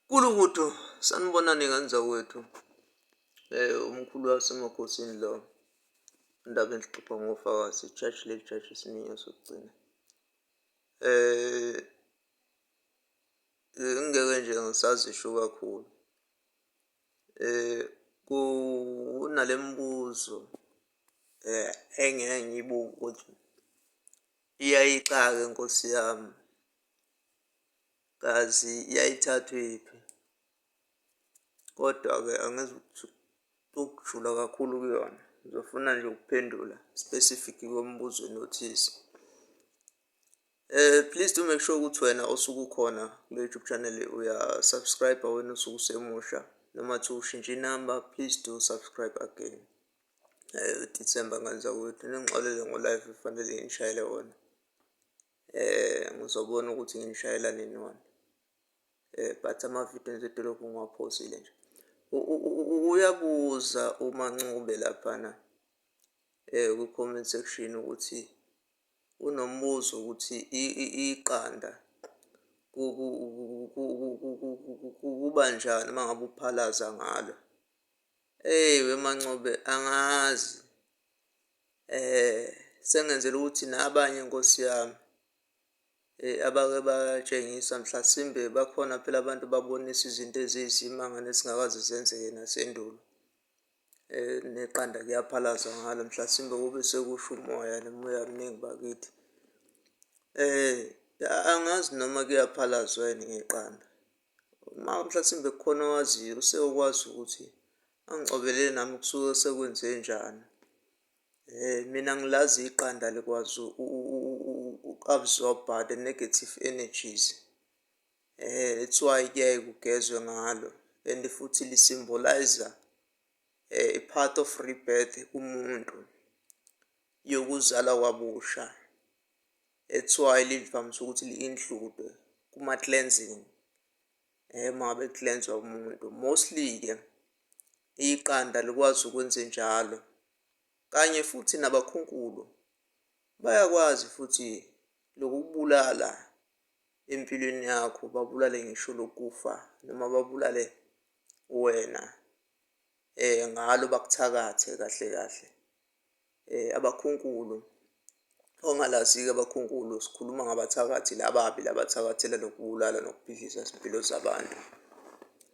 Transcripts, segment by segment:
Nkulukudu sanibonani ngenza wethu eh umkhulu wasemakhosini lo indaba enhlupha ngofakazi church le church isiningi sokugcina eh ngeke nje ngisazisho kakhulu Eh kunalemibuzo eh engeke ngiyibuke ukuthi iyayixaka inkosi yami, kazi yayithathwephi. Kodwa-ke angizukujula kakhulu kuyona, ngizofuna nje ukuphendula specific kwemibuzweni othize. Eh please do make sure ukuthi wena osuke ukhona kule YouTube channel uya subscribe wena osuke usemusha noma thi ushintsha inamba please do subscribe again. Eh December ngenza ukuthi ningixolele ngo live kufanele ngishayele wona. Eh ngizobona ukuthi ngishayela nini wona. Eh but ama video nje dolokhu ngiwaphosile nje. Uyabuza uma ncube lapha na eh ku comment section ukuthi Kunombuzo ukuthi iqanda kuba njani uma ngabe uphalaza ngalo. Eyi weMancobe angazi sengenzela ukuthi nabanye nkosi yami abake batshengisa mhlasimbe bakhona phela abantu ababonisa izinto eziyisimanga nezingakaze zenzeke nasendulo. Eh, neqanda kuyaphalazwa ngalo mhlasimbe kube sekusho umoya nomoya mningi bakithi eh angazi noma kuyaphalazwa yini ngeqanda uma mhlasimbe kukhona owaziyo usewukwazi ukuthi angicobele nami kusuke sekwenze njani eh mina ngilazi iqanda likwazi u-absorb the negative energies Eh, that's why kuyaye kugezwe ngalo and futhi lisymbolize eh, a part of rebirth kumuntu yokuzala kwabusha that's why livamise ukuthi li-include kuma-cleansing eh uma ngabe kuhlenzwa umuntu mostly-ke iqanda likwazi ukwenze njalo kanye futhi nabakhunkulu bayakwazi futhi lokubulala empilweni yakho babulale ngisho lokufa noma babulale wena eh ngalo bakuthakathe kahle kahle eh abakhunkulu ongalazike abakhunkulu sikhuluma ngabathakathi lababi labathakathela nokubulala nokubhidliza izimpilo zabantu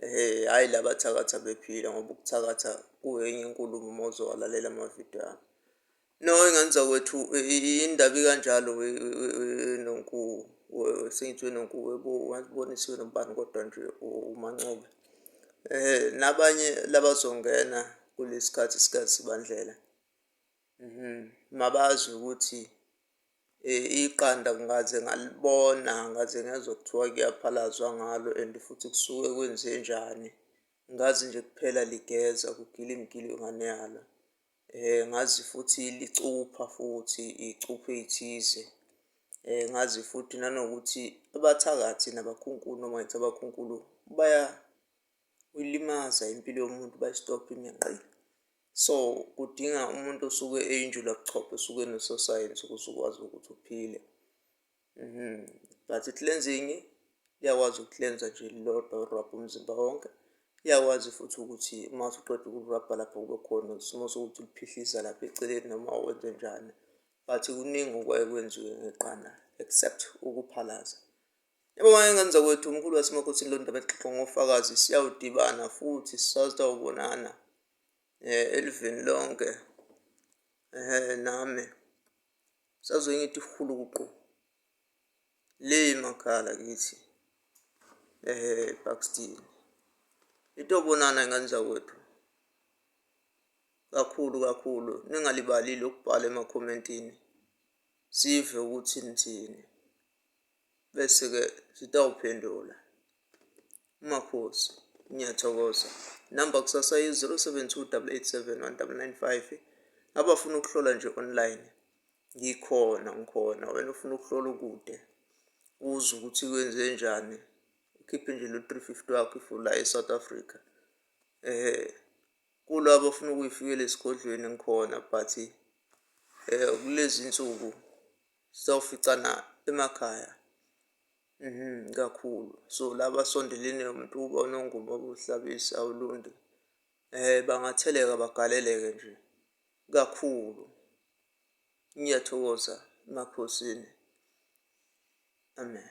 eh hayi labathakatha bephila ngoba ukuthakatha kuyenye inkulumo uma uzowalalela amavidiyo ami No ingenza kwethu indaba ikanjalo nonku sengithi nonku webo wazibonisiwe nobani kodwa nje uMancoba eh nabanye labazongena kulesikhathi sikazibandlela mhm mabazi ukuthi eh, iqanda ngaze ngalibona ngaze ngezwa kuthiwa kuyaphalazwa ngalo and futhi kusuke kwenzenjani ngazi nje kuphela ligeza kugila imigili yongane yalo Eh ngazi futhi licupha futhi icuphe eyithize. Eh ngazi futhi nanokuthi abathakathi nabakhunkulu noma ngithi abakhunkulu bayayilimaza impilo yomuntu bayistobha iminqalo. So kudinga umuntu osuke eyinjulabuchopho osuke enososayensi ukuze ukwazi ukuthi uphile. Mhm. But i-cleansing iyakwazi uku-cleansa nje lilodwa urabha umzimba wonke. Iyakwazi futhi ukuthi uma usuqeda ukurabha lapho kube khona isimo sokuthi uliphihlisa lapha eceleni noma wenze njani. But kuningi okwaye kwenziwe ngeqanda except ukuphalaza. Yebo wayengane zakwethu umkhulu wasemakhothini lo ndaba exoxwa ngofakazi siyawudibana futhi sisazawubonana um elivini lonke um nami. Sazoyi ngithi huluqu. Le makhala kithi. Ehe Buxton. Into bonana ingane zakwethu. Kakhulu kakhulu ningalibali lokubhala emakhomentini. Sive ukuthi nithini. Bese-ke sitawuphendula. Makhosi, ngiyathokoza. Namba kusasa yi-072 Abafuna ukuhlola nje online, ngikhona ngikhona. Wena ufuna ukuhlola ukude, uzwe ukuthi kwenze njani, ukhiphe nje lo-three fifty wakho if ula e-South Africa. Um kulo abafuna ukuyifikela esigodlweni ngikhona but um kulezi nsuku Sizawuficana emakhaya mhm kakhulu so laba sondelene umuntu uba unongoma obuhlabisa awulunde eh bangatheleka bagaleleke nje kakhulu ngiyathokoza emakhosini amen